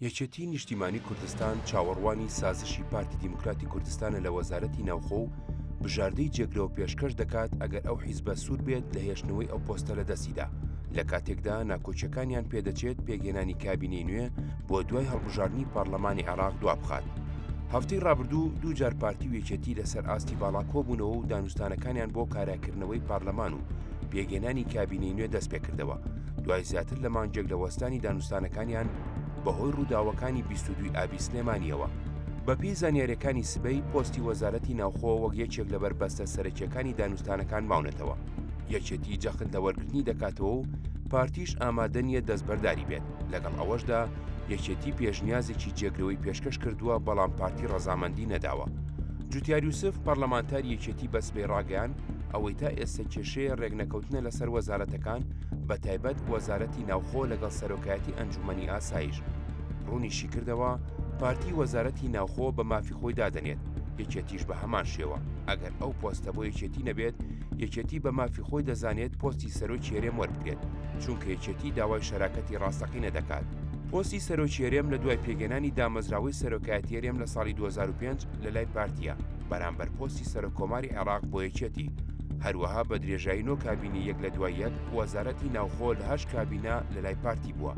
یەکێتی نیشتیمانی کوردستان چاوەڕوانی سازشی پارتی دیموکراتی کوردستانە لە وەزارەتی ناوخۆ و بژاردەی جێگرەوە پێشکەش دەکات ئەگەر ئەو حیزبە سوود بێت لە هێشتنەوەی ئەو پۆستە لە دەستیدا لە کاتێکدا ناکۆکیەکانیان پێدەچێت پێگەێنانی کابینەی نوێ بۆ دوای هەڵبژاردننی پارلەمانی عێراق دوا بخات. هەفتەی ڕابردوو دوو جار پارتی و یەکێتی لەسەر ئاستی باڵا کۆبوونەوە و دانوستانەکانیان بۆ کاراکردنەوەی پارلەمان و پێگەێنانی کابینەی نوێ دەست پێکردەوە دوای زیاتر لە مانگێک لە وەستانی دانوستانەکانیان بەهۆی ڕووداوەکانی بیستودوی ئابی سلێمانیەوە بەپی زانیاریەکانی سبەی پۆستی وەزارەتی ناوخۆ وەک یەکێک لە بەربەستە سەرەکیەکانی دانوستانەکان ماونەتەوە یەکێتی جەخت لە وەرگرتنی دەکاتەوە و پارتیش ئامادە نییە دەستبەرداری بێت لەگەڵ ئەوەشدا یەکێتی پێشنیازێکی جێگرەوەی پێشکەش کردووە بەڵام پارتی ڕەزامەندی نەداوە جوتیار یوسف پەرلەمانتار یەکێتی بەسبەی ڕاگەیان ئەوەی تا ئێستا کێشەیە ڕێکنەکەوتنە لەسەر وەزارەتەکان بە تایبەت وەزارەتی ناوخۆ لەگەڵ سەرۆکایەتی ئەنجومنی ئاسایش ڕوونیشی کردەوە پارتی وەزارەتی ناوخۆ بە مافی خۆی دادەنێت یەکێتیش بە هەمان شێوە ئەگەر ئەو پۆستە بۆ یەکێتی نەبێت یەکێتی بە مافی خۆی دەزانێت پۆستی سەرۆکی هەرێم وەربگرێت چونکە یەکێتی داوای شەراکەتی ڕاستەقینە دەکات پۆستی سەرۆکی هەرێم لە دوای پێگەنانی دامەزراوەی سەرۆکایەتی هەرێم لە ساڵی 2005 لە لای پارتییە بەرامبەر پۆستی سەرکۆماری عێراق بۆ یەکێتی هەروەها بە درێژایی نۆ کابینی یەک لە دوای یەک وەزارەتی ناوخۆ لە هەش کابینە لە لای پارتی بووە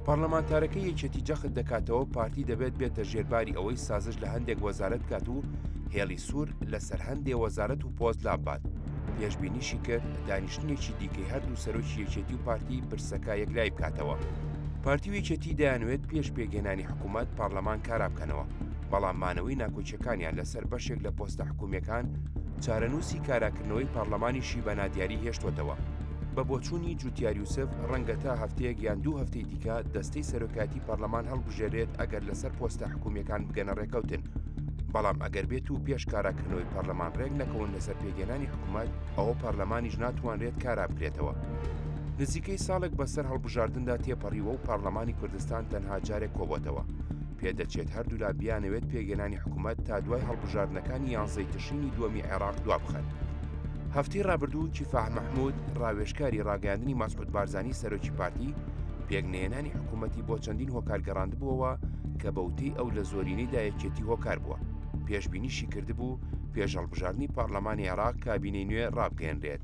پەرلەمانتارەکە یەکێتی جەخت دەکاتەوە پارتی دەبێت بێتە ژێرباری ئەوەی سازش لە هەندێک وەزارت بکات و هێڵی سوور لەسەر هەندێ وەزارت و پۆست لابات پێشببینیشی کرد دانیشتنێکی دیکەی هەردوو سەرۆکی یەکێتی و پارتی پرسەکە یەکلای بکاتەوە پارتی و یەکێتی دەیانوێت پێش پێگەێنانی حکوومەت پەرلەمان کارا بکەنەوە بەڵام مانەوەی ناکۆکیەکانیان لەسەر بەشێک لە پۆستە حکومیەکان چارەنووسی کاراکردنەوەی پەرلەمانیشی بە نادیاری هێشتوەتەوە. بە بۆچوونی جوتیار یوسف ڕەنگە تا هەفتەیەک یان دوو هەفتەی دیکە دەستەی سەرۆکایەتی پەرلەمان هەڵبژێرێت ئەگەر لەسەر پۆستە حکومیەکان بگەنە ڕێکەوتن بەڵام ئەگەر بێت و پێش کاراکردنەوەی پەرلەمان ڕێک نەکەون لەسەر پێگەێنانی حکوومەت ئەوە پەرلەمانیش ناتوانرێت کارا بکرێتەوە. نزیکەی ساڵێک بەسەر هەڵبژاردندا تێپەڕیوە و پەرلەمانی کوردستان تەنها جارێک کۆبۆتەوە پێدەچێت هەردوولا بیانەوێت پێگەنانی حکومەت تا دوای هەڵبژاردنەکانی یانزەی تشرینی دووەمی عێراق دوابخەن. هەفتەی ڕابردوو کیفاح مححمود ڕاوێشکاری ڕاگەاندنی مەسعود بارزانانی سەرۆکی پارتی پێک نێنانی حکوومەتی بۆ چەندین هۆکار گەڕاندبووەوە کە بەوتەی ئەو لە زۆرینەی دایەکێتی هۆکار بووە پێشببینیشی کردبوو پێش هەڵبژاردننی پارلەمانی عێراق کابینەی نوێ ڕابگەێنرێت.